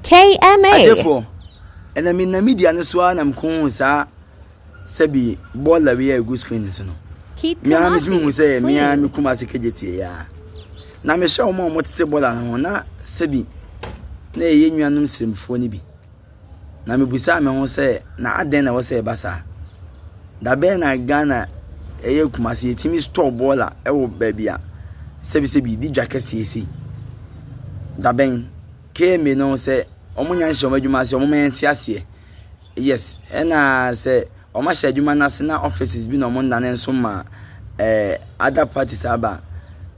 KMA. Atiefoɔ, ɛna me nam media no so ara na mekɔhuu saa sɛbi bɔɔla wei a ɛgu screen no so no. Keep Me ara Kumasi metumi hu sɛ me ara clean. me kum ase kagye tie yɛ a. Na mehwɛ wɔn a wɔtete bɔɔla no ho na sɛbi na ɛyɛ nuanom sremfoɔ no bi. Na mebusaa me ho sɛ na adɛn na ɛwɔ sɛ ɛba saa? Da bɛn na Ghana ɛyɛ Kumasi yɛtumi store bɔɔla wɔ baabi a sɛbisɛbi di dwa kɛseɛ sei? Da bɛn? Kemi no sɛ ɔmo nya nhyɛ ɔmo adwuma ase ɔmo ma yɛnte aseɛ yes ɛna sɛ ɔmo ahyɛ adwuma no ase na offices bi na ɔmo nnane nso ma ɛɛ other parties aba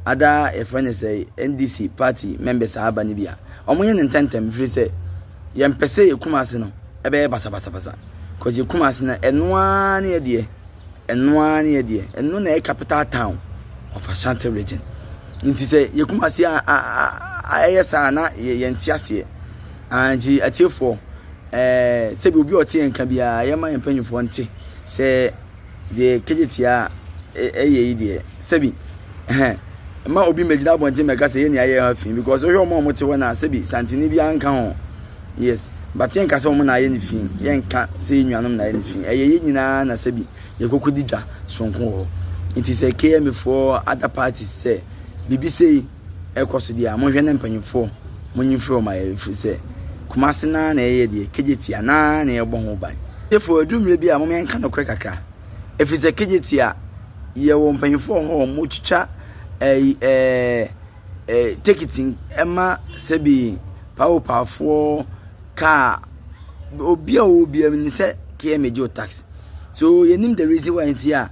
ada yɛfrɛ ne sɛ NDC party members aba no bi a ɔmo yɛ ne ntɛntɛm firi sɛ yɛn pɛ sɛ yɛ Kumasi no ɛbɛyɛ basabasabasa cause yɛ Kumasi no ɛnoaa ne yɛ deɛ. Ɛno ara ne ɛdeɛ, ɛno na ɛyɛ capital town of Ashanti region. Nti sɛ yɛ Kumasi a, a, a, a ɛyɛ saa na yɛ yɛn te aseɛ. Ah, nti atiefoɔ, ɛɛ sɛbi obi a ɔte yɛn ka biara yɛ ma yɛn mpanyinfoɔ nte sɛ deɛ kegyetia ɛyɛ yi deɛ sɛbi ɛhɛn ma obi mmɛgyina abɔnten mmɛka sɛ yɛ ni ayɛ ha fi because wohwɛ wɔn a wɔte hɔ na sɛbi santini biara nka ho. Yes but yɛnka sɛ wɔn na ayɛ ne fi yɛnka sɛ yɛn nuanom na ayɛ ne fi ɛyɛ yɛn nyinaa na sɛbi yɛkɔkɔ di dwa soronko wɔ hɔ nti sɛ km foɔ other parties sɛ biribi sei ɛkɔ so deɛ a monhwɛ ne mpanyinfoɔ monyi mfiri wɔn ayɛ ɛfiri sɛ kumase naa na ɛyɛ deɛ kegyeti a naa na ɛbɔ ho ban tefo ɛduru mmerɛ bi a mom yɛnka nokorɛ kakra ɛfiri sɛ kegyeti a yɛwɔ mpanyinfoɔ hɔ wɔn twitwa ɛyi ɛɛ Tekiti ma sɛbi pahopahofoɔ, kaa, obi a ɔwɔ biara menim sɛ KMA gye wo tax. So yɛnim the reason why nti a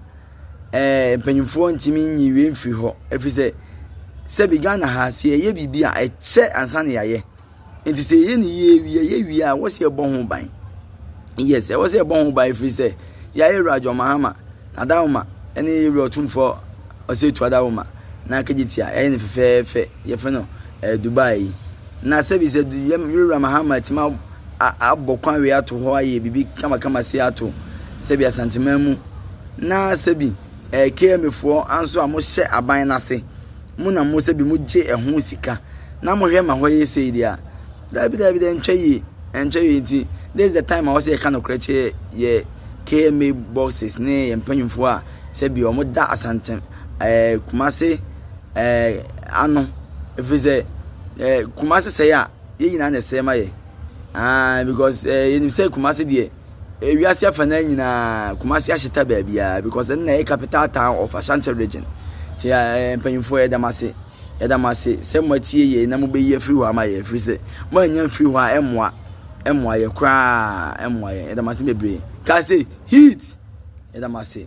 mpanimfoɔ ntumi nyi wei mfiri hɔ ɛfiri sɛ sɛbi Ghana ha sɛ yɛyɛ biribi a ɛkyɛ ansa na yɛayɛ. Nti sɛ yɛyɛ no yie wie yɛwie a ɛwɔ sɛ yɛbɔ ho ban yes ɛwɔ sɛ yɛbɔ ho ban ɛfiri sɛ yɛayɛ wura john mahama adawoma ɛne wura ɔtumfoɔ ɔsɛtu adawoma na akagye tia ɛyɛ no fɛfɛɛfɛ yɛfrɛ no ɛɛ eh, dubai na sɛbi sɛ yɛm wura mahama atumi abɔ kwan wei ato hɔ ayɛ biribi kamakama se ato sɛbi asanteman mu na sɛbi ɛɛ eh, kmfoɔ anso a mohyɛ aban no ase mo na mo sɛ bi mo gye ɛho sika na mo hwɛ ma hɔ yɛ sei deɛ a daabi daabi dɛ ntwa yie ɛntwa yie nti this is the time a wɔsɛ yɛka nokorɛ kyerɛ yɛ kma boxes ne yɛ mpanyinfoɔ a sɛ bi wɔn da asantem ɛɛ kumase ɛɛ ano ɛfiri sɛ ɛɛ kumase sɛe a yɛn nyinaa na ɛsɛe ma yɛ aa because ɛɛ yɛnim sɛ kumase deɛ eh, wiase afanan nyinaa kumase ahyeta baabiara because ɛno na ɛyɛ capital town of ashanti region nti eh, mpanyinfoɔ yɛda mo ase yɛda mo ase sɛ mo atie yɛ na mo bɛyi afiri hɔ ama yɛ ɛfiri sɛ mo anya mfiri hɔ a ɛmmoa ɛmmoa yɛ koraa ɛmmoa yɛ yɛda mo ase bebree kaa sɛ heat yɛda mo ase